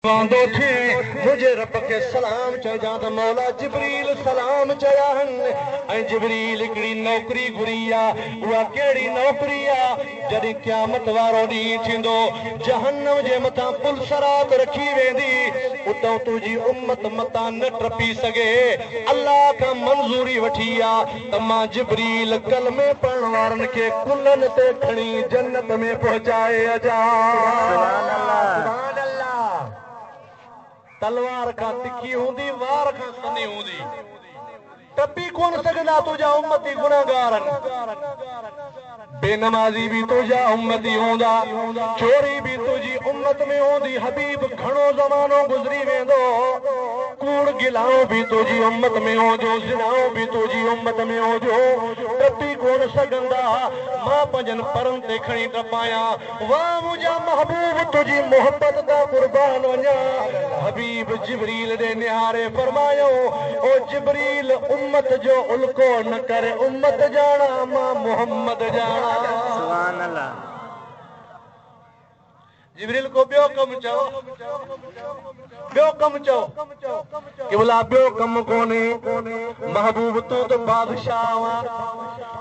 پوندو ٿي منهنجي رب کي سلام چئجان ته مولا جبريل سلام چيا هن ۽ جبريل هڪڙي نوڪري گهري آ اها ڪهڙي نوڪري آ جڏهن قيامت وارو ڏينهن ٿيندو جهنم جي مٿان پل صراط رکي ويندي اتئون تنهنجي امت متان نه ٽپي سگهي الله کان منظوري وٺي آ تما جبريل ڪلمي پڙهڻ وارن کي ڪلهن تي کڻي جنت ۾ پهچائي اچان. تلوار کان تکي هوندي وار کان سنهي هوندي ٽپي ڪونه سگهندا تنهنجا امتي گنهگار آهن. بي نمازي به تنهنجا امتي هوندا، چوري به تنهنجي امت ۾ هوندي حبيب گهڻو زمانو گذري ويندو، ڪوڙ گلائون به تنهنجي امت ۾ هونديون زنائون به تنهنجي امت ۾ هونديون، ٽپي ڪونه سگهندا، مان پنهنجن پرن تي کڻي ٽپايان، واھ منهنجا محبوب تنهنجي محبت تان قربان وڃان حبيب جبريل ڏي نهاري فرمايائون او جبريل امت جو الڪو نه ڪر امت ڄاڻان مان محمد ڄاڻان. جبريل ڪو ٻيو ڪم چئو. ٻيو ڪم چئو. قبلا ٻيو ڪم ڪونهي. محبوب تون ته بادشاهه آن.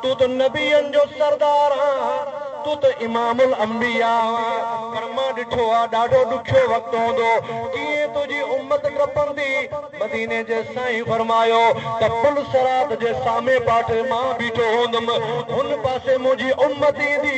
تون ته نبين جو سردار آن. تون ته امام الانبياء آن. پر مان ڏٺو آ ڏاڍو ڏکيو وقت هوندو. ڪيئن تنهنجي امت ٽپندي. مديني جي سائين فرمايو ته پل صراط جي سامي پاٽي مان بيٺو هوندم. هن پاسي منهنجي امت ايندي.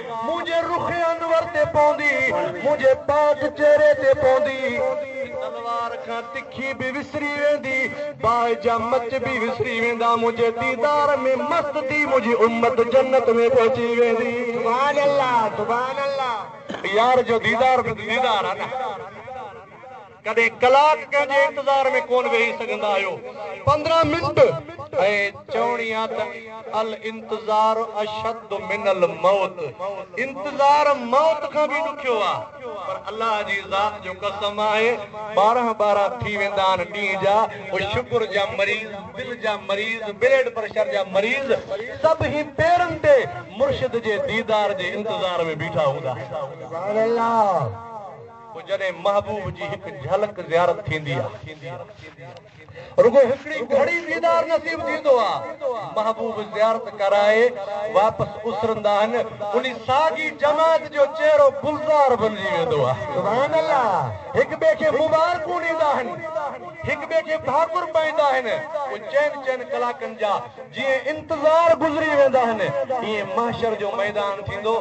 منهنجي رخ انور تي پوندي. منهنجي پاڪ چهري تي پوندي. ته تلوار کان تکي به وسري ويندي. باهه جا مچ به وسري ويندا. منهنجي ديدار ۾ مست ٿي منهنجي امت جنت ۾ پهچي ويندي. سبحان الله سبحان الله. يار جو ديدار به ته ديدار آ نه. ڪڏهن ڪلاڪ ڪنهن جي انتظار ۾ ڪونه ويهي سگهندا آهيو، پندرهن منٽ ۽ چوڻي آ ته الانتظار اشد من الموت، انتظار موت کان به ڏکيو آ، پر الله جي ذات جو قسم آهي ٻارهن ٻارهن ٿي ويندا آهن ڏينهن جا، هو شگر جا مريض، دل جا مريض، بليڊ پريشر جا مريض سڀئي پيرن تي مرشد جي ديدار جي انتظار ۾ بيٺا هوندا آهن. پوء جڏهن محبوب جي هڪ جهلڪ زيارت ٿيندي آ. رڳو هڪڙي گهڙي ديدار نصيب ٿيندو آ. محبوب زيارت ڪرائي واپس اسرندا آهن. انهي ساڳي جماعت جو چهرو گلزار بنجي ويندو آ. سبحان الله هڪ ٻئي کي مبارڪون ڏيندا آهن. هڪ ٻئي کي ڀاڪر پائيندا آهن. پوء چئن چئن ڪلاڪن جا جيئن انتظار گذري ويندا آهن. ايئن محشر جو ميدان ٿيندو.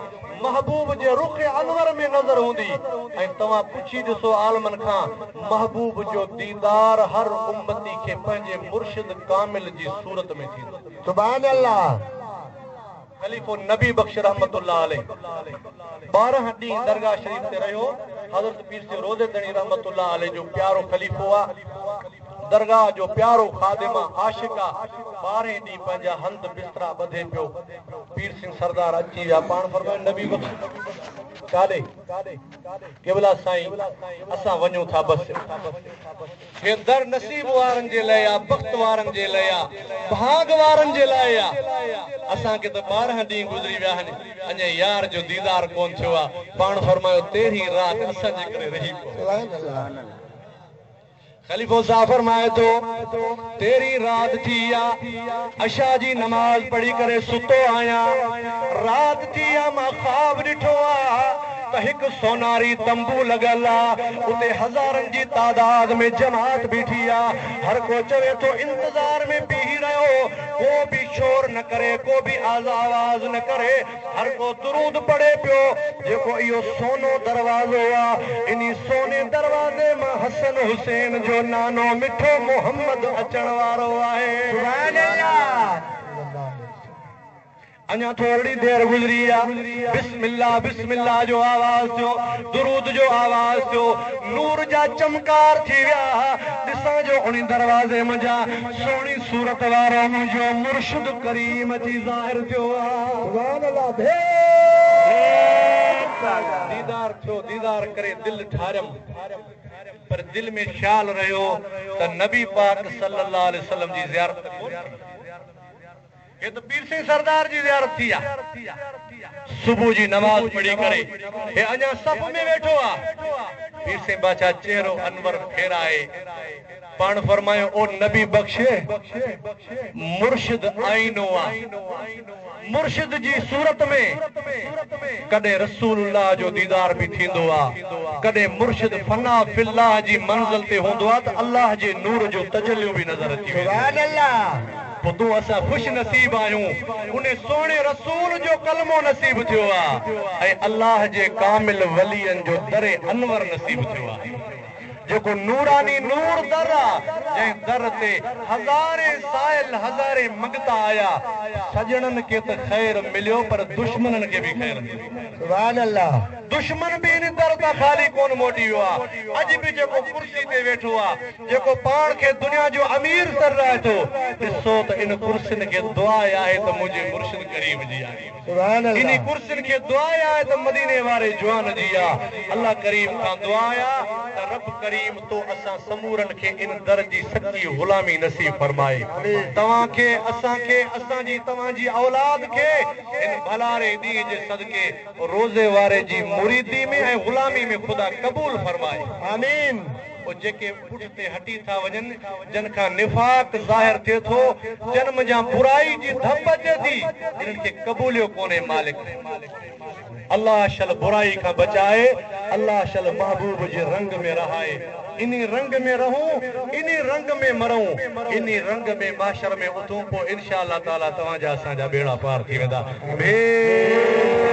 محبوب جي رخ انور ۾ نظر هوندي ۽ توهان پڇي ڏسو عالمن کان محبوب جو ديدار هر امتي کي پنهنجي مرشد ڪامل جي صورت ۾ ٿيندو. سبحان الله. خليفو نبي بخش رحمة الله عليه ٻارهن ڏينهن درگاهه شريف تي رهيو حضرت پير سي روضي ڌڻي رحمة الله عليه جو پيارو خليفو آ. درگاهه جو پيارو خادم آ عاشق آ ٻارهين ڏينهن پنهنجا هنڌ بسترا ٻڌي پيو پير سنگهه سردار اچي ويا پاڻ فرمائن نبي بخش ڪاڏي قبلا سائين اسان وڃون ٿا بس هي در نصيب وارن جي لئي آ بخت وارن جي لئي آ ڀاڳ وارن جي لاء آ اسان کي ته ٻارهن ڏينهن گذري ويا آهن اڃا يار جو ديدار ڪون ٿيو آ پاڻ فرمايو تيرهين رات اسان جي ڪري رهي پئو خليفو صاحب فرمائي ٿو، تيرهين رات ٿي آ، عشاء جي نماز پڙهي ڪري ستو آهيان، رات ٿي آ مان خواب ڏٺو آ ته هڪ سوناري تنبو لڳل آ، اتي هزارن جي تعداد ۾ جماعت بيٺي آ، هر ڪو چوي ٿو انتظار ۾ بيهي رهيو، ڪو به شور نه ڪري، ڪو به آزآواز نه ڪري، هر ڪو درود پڙهي پيو، جيڪو اهو سونو دروازو آ، انهي سوني دروازي مان حسن حسين جو نانو مٺو محمد اچڻ وارو آهي. سبحان الله. اڃا ٿورڙي دير گذري آ، بسم الله بسم الله جو آواز ٿيو، درود جو آواز ٿيو، نور جا چمڪار ٿي ويا، ڏسان جو انهي دروازي منجهان سهڻي صورت وارو منهنجو مرشد ڪريم اچي ظاهر ٿيو ديدار ٿيو ديدار ڪري دل ٺاريم پر دل ۾ خيال رهيو ته نبي پاڪ صلي الله عليه وسلم جي زيارت ڪونهي ٿي هت پيرسين سردار جي زيارت ٿي آ. صبح جي نماز پڙهي ڪري هي اڃا صف ۾ ويٺو آ. پيرسين باچا چهرو انور ڦيرائي پاڻ فرمايو او نبي بخش! مرشد آئينو آ. مرشد جي صورت ۾ ڪڏهن رسول الله جو ديدار به ٿيندو آ. ڪڏهن مرشد فنا في الله جي منزل تي هوندو آ ته الله جي نور جو تجليون به نظر اچي وينديون آهن. ٻڌو اسان خوش نصيب آهيون ان سهڻي رسول جو ڪلمو نصيب ٿيو آهي ۽ الله جي ڪامل ولين جو در انور نصيب ٿيو آهي جيڪو نوراني نور در آهي جنهن در تي هزارين سائل هزارين مڱتا آيا سڄڻن کي ته خير مليو پر دشمنن کي به خير مليو سبحان الله دشمن به ان در تان خالي ڪونه موٽي ويو آهي اڄ به جيڪو ڪرسي تي ويٺو آهي. جيڪو پاڻ کي دنيا جو امير تر رائي ٿو، ڏسو ته ان ڪرسين کي دعا آهي ته منهنجي مرشد ڪريم جي آهي. انهي ڪرسين کي دعا آهي ته مديني واري جوان جي آ. الله ڪريم کان دعا آ ته رب ڪريم تو اسان سمورن کي ان در جي سچي غلامي نصيب فرمائي. توهان کي، اسان کي، اسان جي توهان جي اولاد کي هن ڀلاري ڏينهن جي صدقي روضي واري جي مريدي ۾ ۽ غلامي ۾ خدا قبول فرمائي. آمين. پوء جيڪي پٺتي هٽي ٿا وڃن، جن کان نفاق ظاهر ٿئي ٿو، جن منجهان برائي جي ڌپ اچي ٿي، انهن کي قبوليو ڪونهي مالڪ الله شل برائي کان بچائي، الله شل محبوب جي رنگ ۾ رهائي، انهي رنگ ۾ رهون، انهي رنگ ۾ مرون، انهي رنگ ۾ محشر ۾ اٿون، پوء انشاء الله تعاليٰ توهان جا اسان جا ٻيڙا پار ٿي ويندا. ڀيٽ.